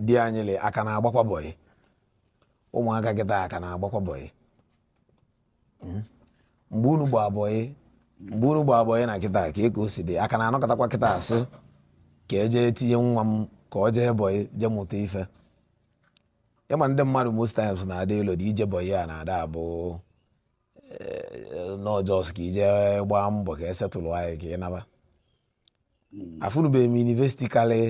di anyị le a ka na-agbakwa bọyị ụmụaka kịta a ka na-agbakwa bọyị hmm? mgbe unu gbaa bọyị mgbe unu gbaa bọyị na kịta ka e ka o si dị a ka na-anọkọtakwa kịta a sị ka e je tinye nwa m ka ọ jee bọyị jee mụta ife ị ma ndị mmadụ most times na-ada elu dị ije bọyị a na-ada abụ eh, not just ka i je gbaa mbọ ka e settle anyị ka ị naba hmm. afụnụbeghị m university karịa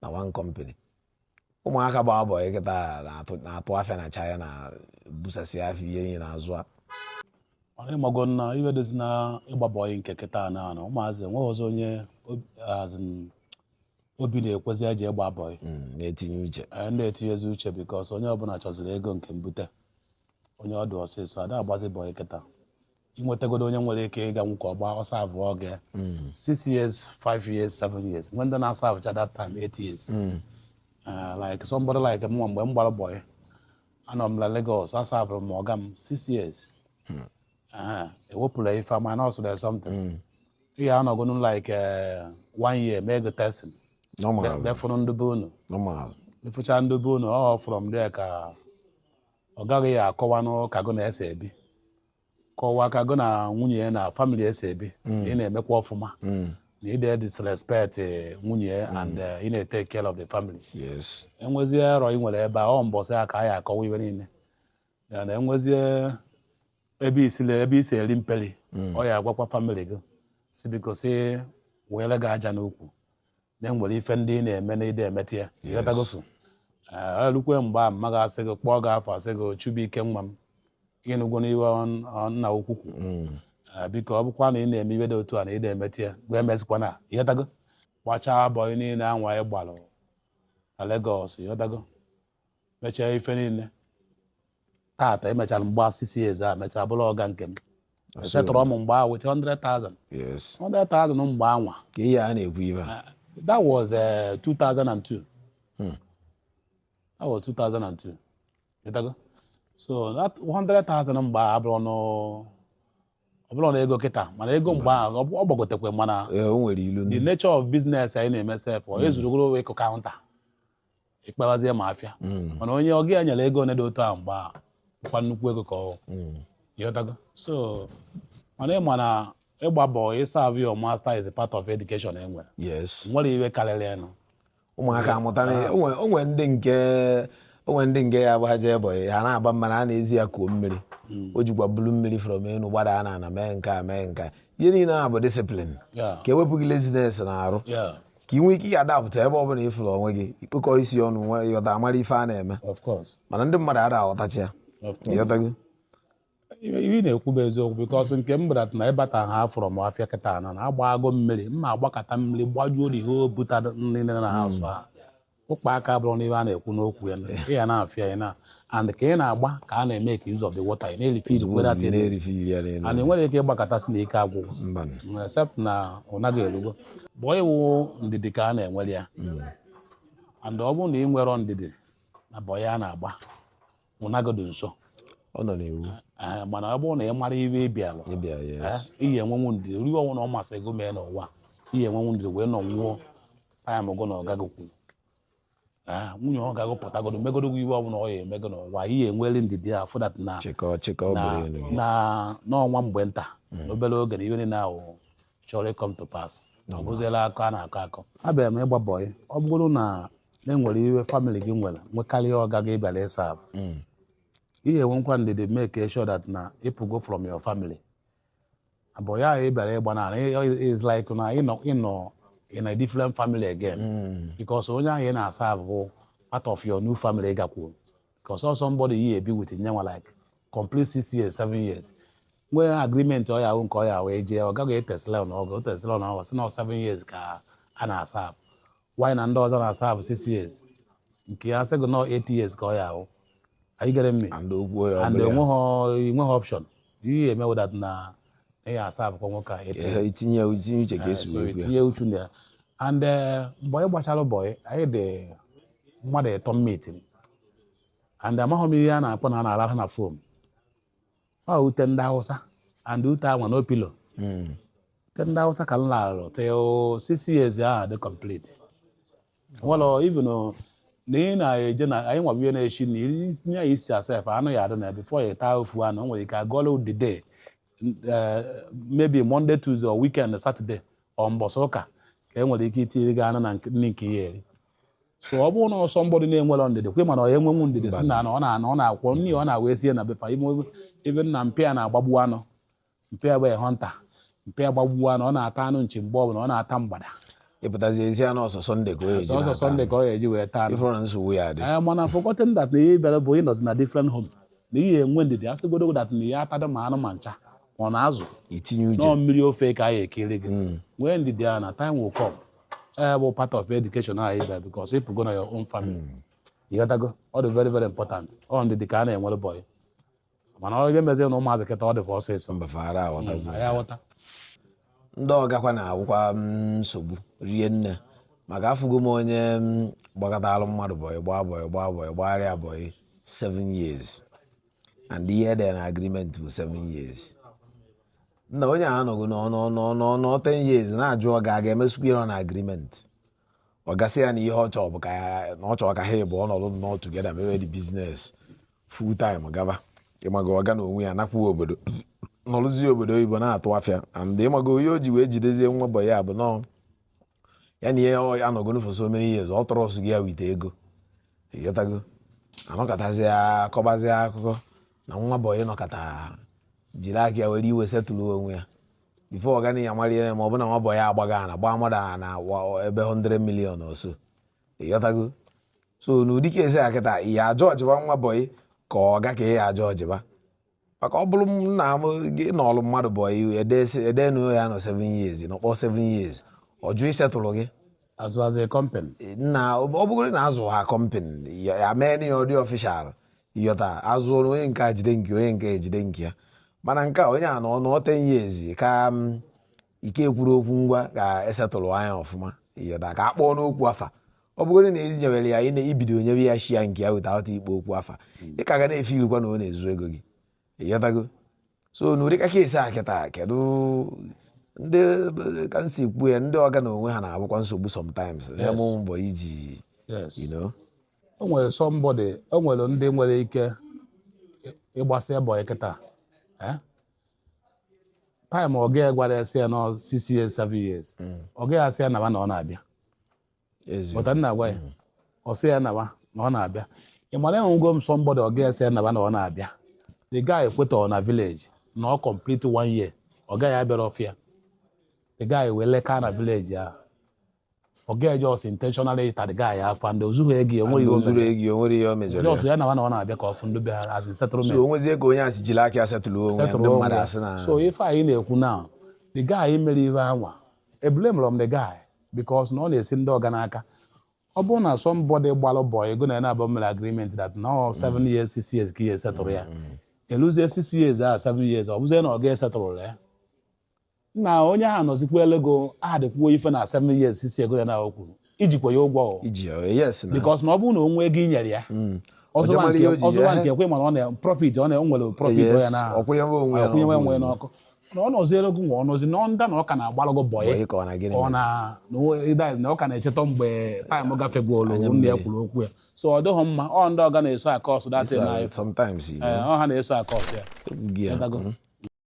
na one company ụmụaka gbaa bọyị kịta na-atụ afịa na China na-ebusasị afịa ihe niile na-azụ a mana ị mago na ife dịzi na ịgba bọyị nke kịta na anọ ụmụazị enweghịzi onye obi na-ekwezi eje ịgba bọyị hmm, na-etinye uche eh, na-etinyezi uche because onye ọbụla chọziri ego nke mbute onye ọdụ ọsịsọ a da agbazi bọyị kịta i nwetagodu onye nwere ike ịga nwoke ọgba ọsọ abụọ oge mm. six years five years seven years nwee ndị na-aservecha that time eight years mm. uh, like somebody like mụnwa mgbe m gbara bọyị anọ m na Lagos aserveru m ọga m six years hmm. uh-huh. ewepụla ife ama na ọsụrụ ya something hmm. ị ya-anọgonu like uh, one year mee gị testing je fụrụ ndị be unu ị fụcha ndị be unu ọ from there ka ọga gị ya-akọwanụ ka gụ na ya si ebi kọwaa ka gị na nwunye ya na family e si ebi mm. ị na-emekwa ọfụma mm. na ị de edisrespect eh, nwunye ya mm. and eh, ị na-etake care of the family e nwezie error i nwere ebe a ọ mbọsị ya ka a ya-akọwa ife niile ya na e nwezie ebe i si le ebe i si eri mperi ọ ya-agwakwa family gị si biko si weere gị aja n'ukwu na e nwere ife ndị ị na-eme na ị de emeta ya ị ghọtagofu e lukwe mgbe a mma gị asị gị kpọọ gị afa sị gị Chibuike nwa m ị nụgwonụ ife nna ukwu kwu mm. biko ọ bụkwa na ị na-eme ife dị otu a na ị de emeta ya ngwa emezikwana ị ghọtago gbachaa bọyị niile anwa ị gbalụ na Lagos ị ghọtago mechaa ife niile tata e mechara m gbaa six years a mechaa bụrụ ọga nke m settleru m mgbe ahụ with 100,000 yes 100,000 mgbe anwa ka ihe a na-ekwu ife a that was uh, 2002 Hmm. that was 2002 ị ghọtago so that 100,000 mgbe ahụ abụrọnụ ọ bụrọnụ ego kịta mana ego mgbe ahụ ọ bụ- ọ gbagotekwe mana Ee, o nwere ilu the ndị nature of business anyị na-eme sef o zurugoro wee kụ counter ịkpawazie ma afịa mm. mana onye ọga ya nyere ego dị otu ahụ mgbe a kwa nnukwu ego ka ọ mm. ị ghọtago so mana ị ma na ịgba bọyị serve your master is a part of education e nwere nwere ife karịrị enu ụmụaka amụta ah. o nwe ndị nke o nwe ndị nke ya agbaje bọyị ha na-agba ama na a na-ezi ya kuo mmiri hmm. o jikwa bulu mmiri from enu gbada a na-ana mee nke a mee nke a ihe niile a bụ discipline ka e wepụ gị laziness na arụ ka ị nwee ike ya adapt ebe ọ bụla ị fụrụ onwe gị ikpokọ isi ọnụ nwa ịghọta amara ife a na-eme mana ndị mmadụ ada aghọtacha ya ịghọtago ihe m na-ekwu bụ eziokwu because nke m gbara na ịbata ha afụrọ m afịa kịta na na agbago mmiri m ma agbakata mmiri gbajuo na ihe o buta nri na ha azụ ha ụkpa aka abụrụ n'ihe a na-ekwu n'okwu ya ị ya na-afịa ya na and ka ị na-agba ka a na-emake use of the water ị na-erife izu were ati and enwere ike ịgbakata sị na ike agwụgwo mm, except na ụna gị erugo bọyị wụ ndidi ka a na-enwere ya mm. and ọ bụrụ na ị nwerọ ndidi na bọyị a na-agba ụna gị dị nso ọ nọ n'iwu Ee, mana ọ bụrụ na ị mara ihe ị bịara ịbịa yes Ee, ị ya-enwenwu ndidi ihe ọwụna ọ masị gị mee n'ụwa ị ya-enwenwu ndidi wee nọnwuo anya mụgo na ọga gị kwuru Ee, nwunye ọga gị pụtagodo megodo gị ihe ọwụna ọ ya-eme gị n'ụwa ị ya-enwere ndidi afụ that na chịkọ chịkọ na bụrụ elu gị na ọ nwa mgbe nta obere oge na ihe niile ahụ chọrọ ịcome to pass ọ bụziela akọ a na-akọ akọ abịara m ịgba bọyị ọ bụrụ na enwere ihe family gị nwere nwekarịa ọga gị ị bịara ịserve hmm. ị ya-enwekwa ndidi make sure that na ị pụgo from your family bọyị ahụ ị bịara ịgba na is like na ịnọ ịnọ in a different family again hmm. because onye ahụ ị na-serve bụ part of your new family ị gakwuru because ọ somebody you be with ya nwa like complete six years seven years nwee agreement ọ ya ahụ nke ọ ya ahụ eje ọga gị etesla na ọgụ otesla na ọgụ si na seven years ka a na-serve while na ndị ọzọ na-serve six years nke ya sị gị na ọ eight years ka ọ ya ahụ anyị gere mme and enweghị option ihe eme wụ that na ị ya-servekwa nwoke a itinye uche ka esi itinye uchu na ya and eh, mgbe anyị gbachara bọyị anyị dị mmadụ ịtọ m meet and amaghị m ihe a na-akpọ na a na-arahụ na foam ọ ute ndị Hausa and ute anwa no pillow hmm. ute ndị Hausa ka m larụ till six years ahụ dị complete well even na ị na-eje na anyị nwa ihe na-echi na itinye ya azụ sef anụ ya adị na before ya taa ofu anụ o nwere ike agụọla the day eh, maybe Monday Tuesday or weekend Saturday or mbọsị ụka ka e nwere ike itinye gị anụ na nri nke ị ya-eri so ọ bụrụ na ọ somebody na-enwerọ ndidi kwe mana ọ enwenwu ndidi si na ọ na-anọ ọ na-akwọ nri ọ na-awa esie na be pa ime ebe na mpa ya na-agbagbu anụ mpa ya bụ hunter mpa ya gbagbu anụ ọ na-ata anụ nchi mgbe ọbụla ọ na-ata mgbada ị pụtazie ezi anụ ọ sọ Sunday ka ọ ọ sọ Sunday ka ọ ga-eji wee taa anụ ifụrụ nsogbu ya dị ee mana forgotten that na ihe ị bịara bụ ịnọzi na different home na ị ya-enwe ndidi asịgodo that na ị ya-atadị ma anụ ma ncha ma ọ na azụ itinye uche na ọ mmiri ofe ka anyị ekiri gị nwee ndidi a na time will come e bụ part of education ahụ ibe because ịpụgo na your own family hmm. ịghọtago ọ dị very very important ọ ndị dị ka a na-enwere bọyị mana ọ ga-emezi na ụmụazị kịta ọ dịkwa ọsịsọ hmm, ndị ọgakwa na-awụkwa mm, nsogbu rie nne maka afụgo m onye mm, gbakọtara mmadụ bọyị gbaa bọyị gbaa bọyị gbagharịa bọyị 7 years and ihe dị na agreement bụ 7 years nna onye a anọgo nnọọ 10 years na-ajụ ọga ga-emezukwa ihe na agreement ọga sị ya na ihe ọ chọọ bụ ka na ọ chọọ ka ha ịbụọ nọdụ nnọọ together mewe the business full time gaba ịmago ọga na onwe ya nakwuo obodo nọrụzi obodo oyibo na-atụ afịa and ịmago ihe o ji wee jidezie nwa bọyị a bụ na ọ ya na ya anọgonụ for so many years ọ trustigo ya with ego ịghọtago anọkatazi akọbazi akụkọ na nwa bọyị nọkata jiri aka ya were iwe setụlụ onwe ya before ọga ya mara ihe ma ọ bụ na nwa bọyị agbago na gbaa mmadụ ana na ebe 100 million ọsọ ịghọtago so n'ụdị case a kịta ị ya-ajọjịba nwa bọyị ka ọga ka ị ya-ajọjịba maka ọ bụrụ na gị nọọlụ mmadụ bọyị edenu ị ya-anọ 7 years nọkpọ 7 years ọ jụ isetụlụ gị azụ azụ company na ọ bụgoro na azụ ha company ya mee na ya ọ dị official ịghọta azụ ọrụ onye nke a jide nke onye nke a jide nke ya mana nke a onye a nọnụ 10 years ka mm, ike kwuru okwu ngwa ka esetụlụ ya ọfụma ịghọta ka a kpọọ n'okwu afa ọ bụgoro na ezinyewere ya ịna ibido nyebe ya share nke ya weta ghọta ikpo okwu afa ị ka ga na-efilukwa na ọ na-ezu ego gị ịghọtago so n'ụdị case a kịta kedu ndị ka m si kwuo ya ndị ọga na onwe ha na-abụkwa nsogbu sometimes ya Yes. mụ mbọ iji Yes. you know o nwere somebody o nwere ndị nwere ike ịgbasị bọyị kịta time ọga ya gwara ya sị ya nọ six years seven years mm. ọga ya asị ya nawa na ọ na-abịa pụta nna gwa ya mm. ọ sị ya nawa na ọ na-abịa ị mara enwego m somebody ọga ya asị ya nawa na ọ na-abịa the guy ekweta na village nọọ complete one year ọga ya abịarọ ọfịa the guy wee leka na village ahụ ọga ya just intentionally ịta the guy afụfụ and ozughị ego ya onweghị ozuru ego ya onwere ihe o mejọrọ ya ya na ọ na-abịa ka ọfụ ndị be ha as in settlement so onwezie ka onye a si jiri aka ya setụlụ onwe ndị mmadụ asị na so ife anyị na-ekwu na the guy mere ihe anwa eblamerọ m the guy because na ọ na-esi ndị ọga n'aka ọ bụrụ na somebody gbalụ bọyị gị na ya naabọ mere agreement that na ọ seven years six years ka ị ya-esetụrụ ya mm. eluzie six years a seven years ọ bụzie na ọ ga-esetụrụ ya na onye ahụ nọzikwa elego aha dịkwuo ife na seven years si ego ya na o kwuru ijikwa ya ụgwọ o iji ya yes na because na ọ bụrụ na o nwee ego i nyere ya Mm. ọ zụwa Ọjọọ mara ihe o nke ji ọzụwa ya. nke ekwe mana ọ na profit ọ na o nwere profit Yes, ọ ya na ọ kwụnyewe onwe ya akwụnyewe n'ọkụ onwe ya ozugbo. n'ọkụ na ọ nọzi elego nwa ọ nọzi na nda na ọ ka na-agbalago bọyị Bọyị ka ọ na gịnị ka ọ na na o- ịda na ọ ka na-echeta mgbe time gafegworo Anya nne ya mmiri. kwuru okwu ya so ọ dịghị mma ọ ndị ọga na-eso a-cause that thing So, sometimes you know, ọ ha na-eso a-cause ya ekwughị ya. Ịdago. Mm.